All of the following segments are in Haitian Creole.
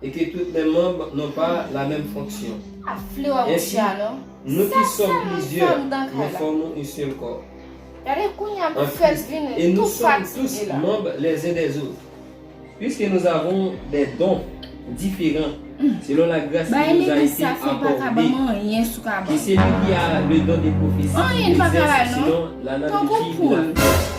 e ke tout men manb non pa la menm fonksyon. Ensi, nou ki som plizyè, nou fòmon yn sèl kò. An Kris, e nou som tous manb les uns des autres. Puiske nous avons des dons diferan selon la gras ki nous a ete akòde, ke seli ki a le don de profesi egzèse sinon l'analoji de la kreyasyon.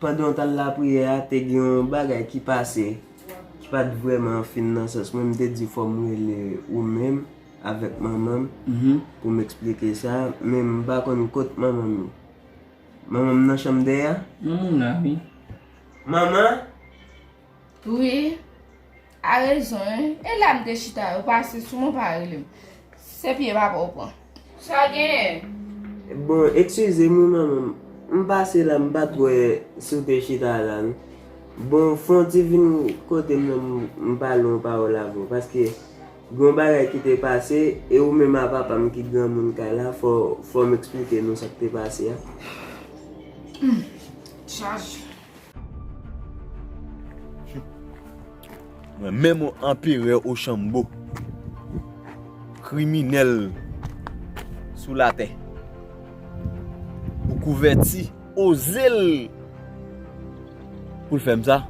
Pandan w t al lapriyè a, te gen yon bagay ki pase ki pa t vrèman fin nan sans mwen. M te di fò m rele ou menm avèk manman m pou m esplike sa. Men m pa konn kot manman m ye. Manman m nan chanm dèyè a? Manman m la wi. Manman? Wi. A rezon wi, e la m te chita yo pase sou mwen pa relem. Se pye papa w pran. Sa genyen? Bon eksizem wi manman m pase la m pat wè si w te chita la non. Bon fon ti vin kote m nan m pale yon pawòl avè w paske gen yon bagay ki te pase e ou menm a papa m ki granmoun kay la fò m eksplike nou sa k te pase a. Humm chaj. Mwen menm ou anperè ochanbo. Kriminèl sou latè. Pou kouvèti oze l. Pou l fè m sa.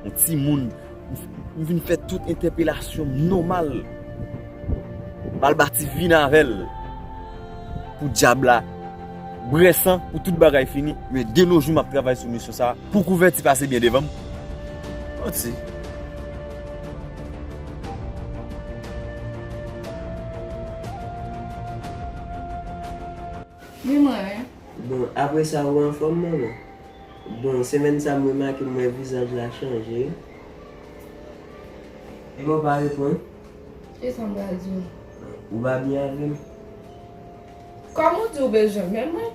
Yon ti moun. M vin fè tout entèpelasyon m nòmal. Balbati vin avè l pou dyab la brè san, pou tout bagay fini. Men de no jou m ap travay sou misyon sa a pou kouvèti pase byen devan m. Manti. Wi mwen wi. Bon apre sa ou anfom manman. Bon semèn sa m remake m wè vizaj la chanje. Epa w pa reponn. E sa m pral di w. Ou pa byen avè m. Kòm ou di w bezwen men mwen.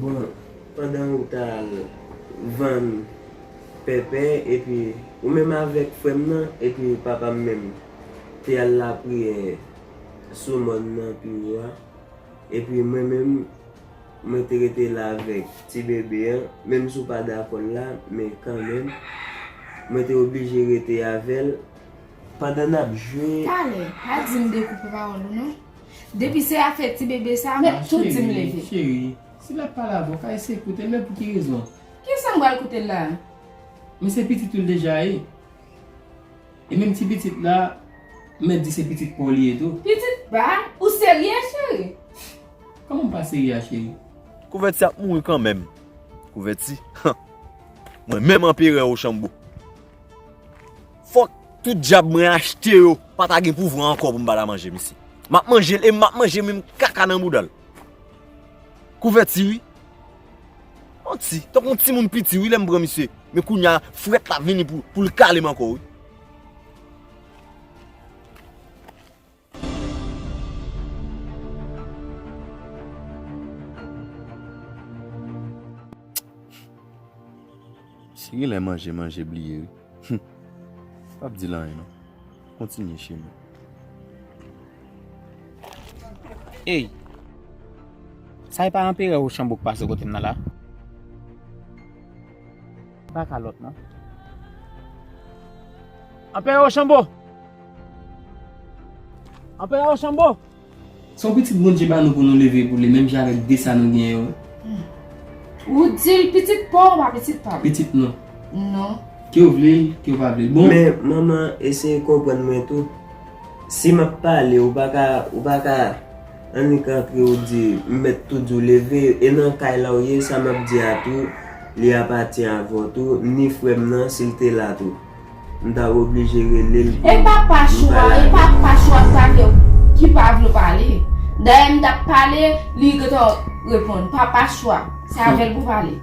Bon pandan ou ta al vann pèpè epi ou menm avèk frè m nan epi papa m menm te al lapriyè sou mòn nan pi wo a. Epi mwen menm, mwen te rete la avèk ti bebe an, menm si w pa dakò l la, men kanmenm, mwen te oblije rete avè l, pandan n ap jwe. Talè, pa di m dekoupe pawòl ou non. Depi se afè ti bebe sa, mwen tou di m leve. Cheri, si l ap pale avè w, faye se koute l, men pou ki rezon? Kisa m pral koute l la a? Men se pitit ou l deja ye. E menm ti pitit la, mèt di se pitit paw li ye tou. Pitit pa, ou serye cheri? Kòman m pa serye a cheri? Kouvèti ap mouri kanmenm. Kouvèti, han! Mwen menm anperè Rochambeau. Fòk tout djab mwen achte yo pa ta gen pouvwa ankò pou m ba l a manje mesye. M ap manje l e m ap manje menm kaka nan bouda l. Kouvèti wi. Manti, tankou yon timoun piti wi lèm pran misye, men kounya frèt la vini poul kalem ankò wi. Si gen lè manje manje bliye wi. Humm pap dil anyen non kontinye cheri. Ey sa epa anperè rochanbo k pase kotem nan la. Epa kalòt non. Anperè rochanbo! Anperè rochanbo! Se yon pitit Bondye ba nou pou nou leve pou li menm jan avèk 2 sa nou gen yo. Ou di l pitit pa w ou pa pitit pa m. Pitit nou. Nou. Ke w vle l, ke w pa vle l. Bon. Men, manman, eseye konprann mwen tou. Si m ap pale, ou pa ka, ou pa ka annik antre ou di, m mèt tou di w leve, e nan kay la ou ye, sa m ap di a tou, li apati avè w tou, ni frè m nan, si l te la tou. M ta oblije rele l pou m pale avè l. E pa Pachou a, e pa Pachou a sa ke, ki pa vle w pale. Dayè m t ap pale, li gentan reponn. Pa Pachou a, se avè l pou w pale.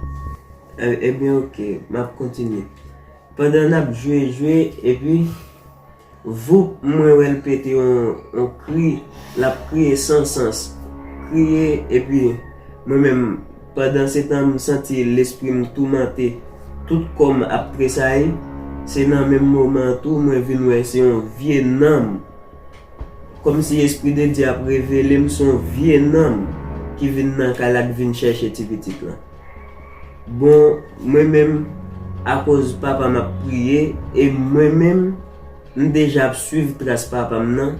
Ebyen ok, m ap kontinye. Pandan n ap jwe jwe, epi, voup mwen wè l pete yon kri, l ap kriye san sans. Kriye, epi mwen menm. Pandan se tan m santi lespri m toumante, tout kò m ap tresayi, se nan menm moman an tou mwen vin wè se yon vye nanm. Kòmsi Espri de Dye ap revele m se yon vye nanm ki vin nan kay la ki vin chèche ti pitit lan. Bon, mwen menm, akoz papa m ap priye e mwen menm. M deja ap swiv tras papa m nan,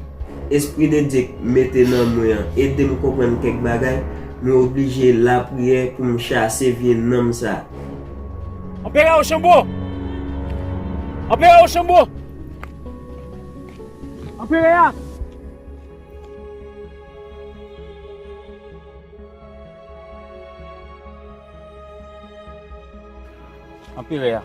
espri de Dye k mete nan mwen an ede m konprann kèk bagay, mwen oblije lapriyè pou m chase vye nanm sa. Anperè Rochambeau! Anperè Rochambeau! Anperè a! Anperè a!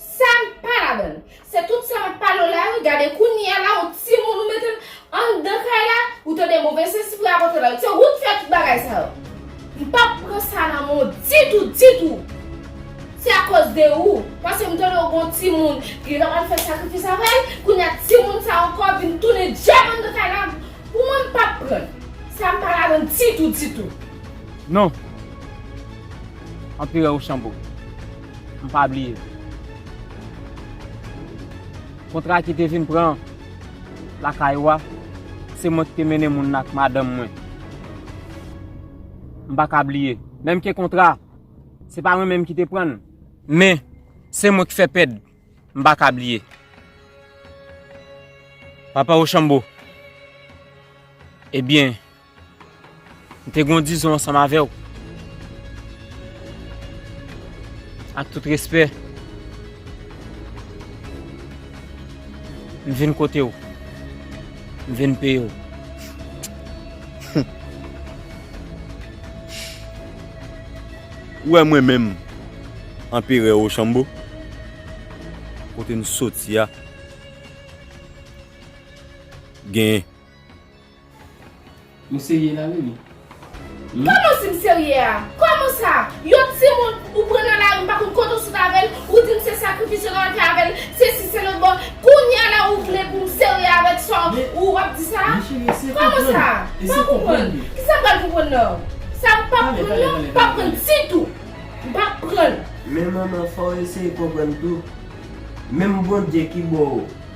Sam pa ladann. Se tout sa map palew la wi gade kounyea la ou timoun ou metel andan kay la ou tande move sesi pou rapòte la se ou ki fè tout bagay sa yo mpap pran sa nan menw ditou ditou se akòz de ou paskem tande ou gon timoun li tap al fè sakrifis avèl kounyea timoun sa ankò vin tounen djab andan kay la pou mwen mpap pran sa mpa ladann ditou ditou. Non! Anperè Rochambeau. m pa bliye. Kontra ki te vin pran lakay ou a, se mwen ki te mennen moun nan ak madanm mwen. M pa ka bliye. Menm ke kontra a, se pa mwen menm ki te pran l. Men, se mwen ki fè pèd. M pa ka bliye. Papa Rochambeau, ebyen. M te gen yon dizon ansanm avè w. Ak tout respè, m vin kote w. M vin peye w. Ou wè mwen menm, Anperè Rochambeau, kote m soti a gen. Ou serye la Mimi? Humm. Koman si m serye a? Koman sa? Yon timoun ou pran nan lari m pa konn kote w sot avè l, ou di m se sakrifis yo nan fè avè l, sesi selot bon kounye a la ou vle pou m serye avèk sa w ou ap di sa a? Koman sa? M pa konprann. Kisa m pral konprann nan w? Sa m pap konprann lan m pap konprann ditou. M pa konprann. Men manman fò w eseye konprann tou. Menm Bondye ki bo w.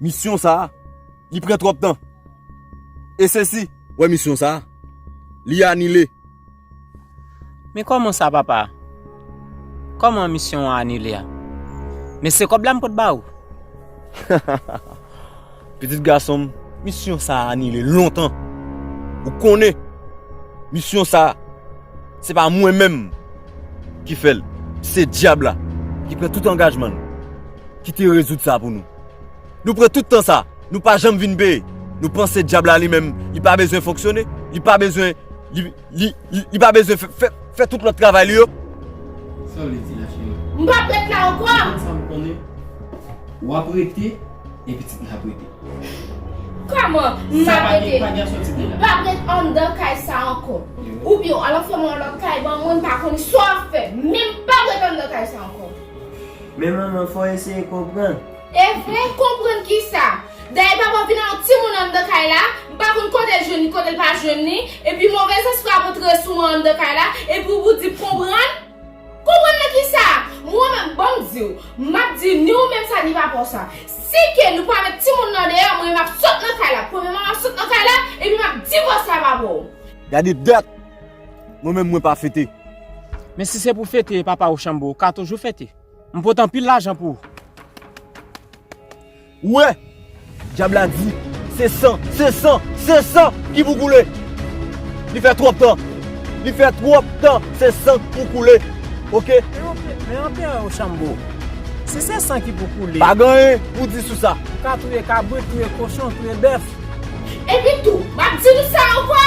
Misyon sa a, li pran twòp tan. E se si. Wè misyon sa a, li anile. Men kòman sa papa? Kòman misyon an anile a? Men se kòb la m pot ba ou. Pitit gason m, misyon sa a anile lontan. Ou konnen, misyon sa a, se pa mwen menm. Ki fè l se Dyab la ki pran tout angajman nou, ki te rezoud sa pou nou. Nou pran tout tan sa, nou pa janm vin peye. Nou panse Dyab la li menm li pa bezwen fonksyone, li pa bezwen, li, li, li pa bezwen fè, fè, fè tout lòt travay li yo? Sa w vle di la, cheri? M p ap ret la ankò! Ou konn sa m konnen. W ap rete. e pitit mwen ap rete. Kòman m ap rete? M pa p ret anndan kay sa a ankò. Oubyen w al antre m nan lòt kay ban mwen, m pa konnen sa w ap fè. Men m pa p ret anndan kay sa a ankò. Men manman, fò w eseye konprann. E vre? Konprann ki sa? Dayè papa vin ak yon timoun anndan kay la, m pa konn kote l jwenn li, kote l pa jwenn li, epi movèzespri ap antre sou mwen anndan kay la, epi w di m konprann? Konprann nan ki sa? Mwen menm banm diw, map di ni ou menm sa ni papaw sa. Si ke nou pa met timoun nan deyò mwen map sot nan kay la. Premyèman map sot nan kay la epi map divòse a papaw. Gade dat! Mwen menm mwen pa fete. Men si se pou fete papa Rochambeau ou ka toujou fete. M pot anpil lajan pou ou. Ou wè! Dyab la di, Se san, se san, se san ki pou koule! Li fè twòp tan! Li fè twòp tan! Se san ki pou koule! Oke! Men Anperè Rochambeau, si se san ki pou koule. Pa gen anyen pou di sou sa! Ou ka touye kabrit, touye kochon, touye bèf. Epi tou, m ap di nou sa ankò!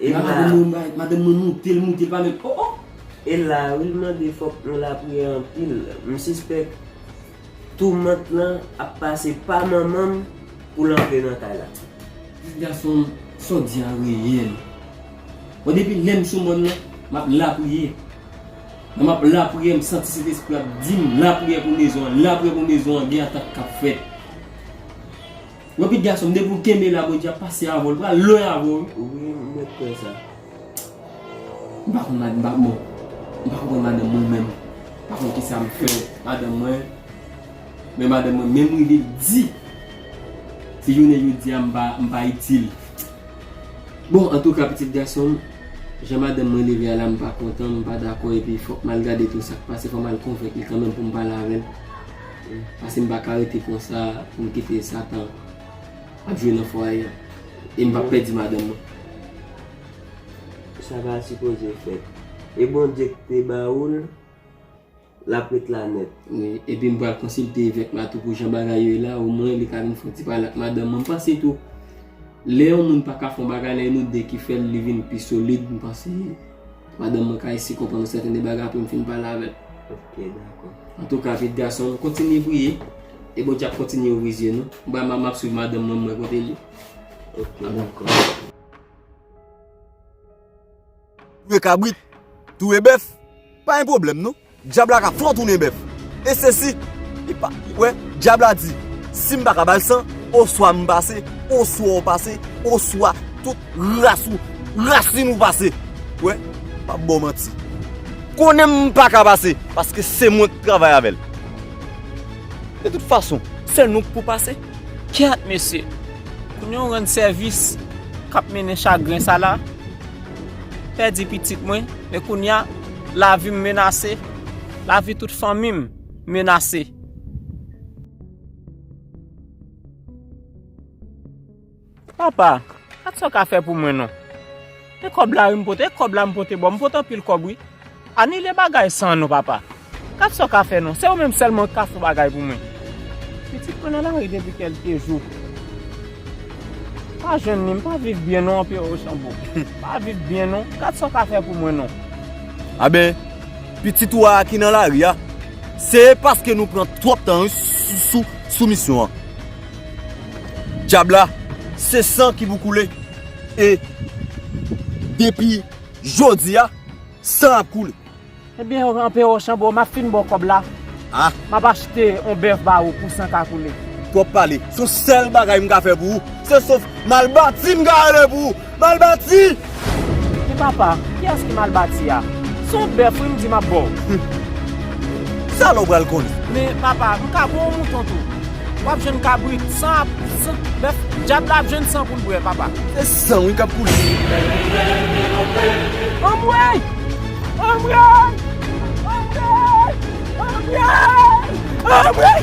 E la wi mwen bay madanm mwen moute l moute l pa menm oh oh. E la wi l mande fòk nou lapriyè anpil m sispèk toumant lan ap pase pa manman m pou l antre nan kay la. Pitit gason m sa w di a reyèl bon depi lè m sou mòn nan m ap lapriyè lè m ap lapriyè m santi sentespri a ap di m lapriyè pou mezon an lapriyè pou mezon an gen atak k ap fèt. Yon pit gason depi ou kenbe la bondye ap pase avèw li pral lwen avèw wi m mèt kwè sa. M pa konn madanm pa bon m pa konprann madanm mwen menm m pa konn kisa m fè madanm mwen men madanm mwen menm rive di si jounen jodia m pa m pa itil bon antouka pitit gason m jan madanm mwen leve a la m pa kontan m pa dakò epi fòk m al gade tou sak pase fò m al konvenk li kanmenm pou m pale avèl. Pase m pa ka rete konsa pou m kite satan ap jwe nan fwaye an e m pa p pèdi madanm mwen. Sa pa sipoze fèt. E Bondye ki te ba ou l, l ap ret la nèt. Wi, epi m pral konsilte evèk la tou pou jan bagay yo ye la, omwen li ka vin fè yon ti pale ak madanm mwen. M panse tou, lè yon moun pa ka fè yon bagay, lè nou de ki fè l, li vin pi solid, m panse. Madanm mwen ka esi konprann yon sèten de bagay apre m fin pale avè l. Ok, dakò. Antouka piit gason m, kontinye priye e Bondye ap kontinye ouvri zye nou. M pral m ap swiv madanm mwen m wè kote l ye. Ok, dakò. Touye kabrit, touye bèf, pa yon pwoblèm non. Dyab la ka fè-w tounen bèf. E se si, li pa, wè, Dyab la di, si m pa ka ba-l san, oswa m pase, oswa w pase, oswa tout ras ou, rasin ou pase. Wè, m pa ba-w manti. Konnen m pa ka pase, paske se mwen k travay avè-l. De tout fason, se nou k pou pase. Kyèt mesye! Kounye w rann sèvis k ap mennen chagren sa la. pèdi pitit mwen, e kounye a, lavi m menase, lavi tout fanmi m menase. Papa, gad sa w ka fè pou mwen non. E kòb la wi m pote, e kòb la m pote ba w. M pote anpil kòb wi. Anile bagay sa non papa. Gad sa w ka fè non. Se ou menm sèlman ki ka fon bagay pou mwen. Pitit mwen nan lari depi kelke jou. M pa jwenn li. M pa viv byen non anpè Rochambeau. M pa viv byen non. Gad sa w ka fè pou mwen non. A ben, pitit ou a a ki nan lari a, se paske nou pran twòp tan wi sou misyon an. Dyab la, se san ki pou koule. E depi jodi a. San ap koule. Ebyen anpe Rochambeau map fin baw kob la map achte yon bèf ba ou pou san ka koule. Twòp pale, son sèl bagay m ka fè pou ou, se sof mal bati m ka rele pou ou, mal bati! Men papa, kiyès ki mal bati a? Se yon bèf wi m di map baw. Sa lè w pral konnen. Men papa, m ka baw yon mouton tou? Wap jwenn kabrit san ap san bèf dyab la ap jwenn san poul bwè papa. Se san wi kap koule. Anmweyy anmweyy anmweyy anmweyy anmweyy.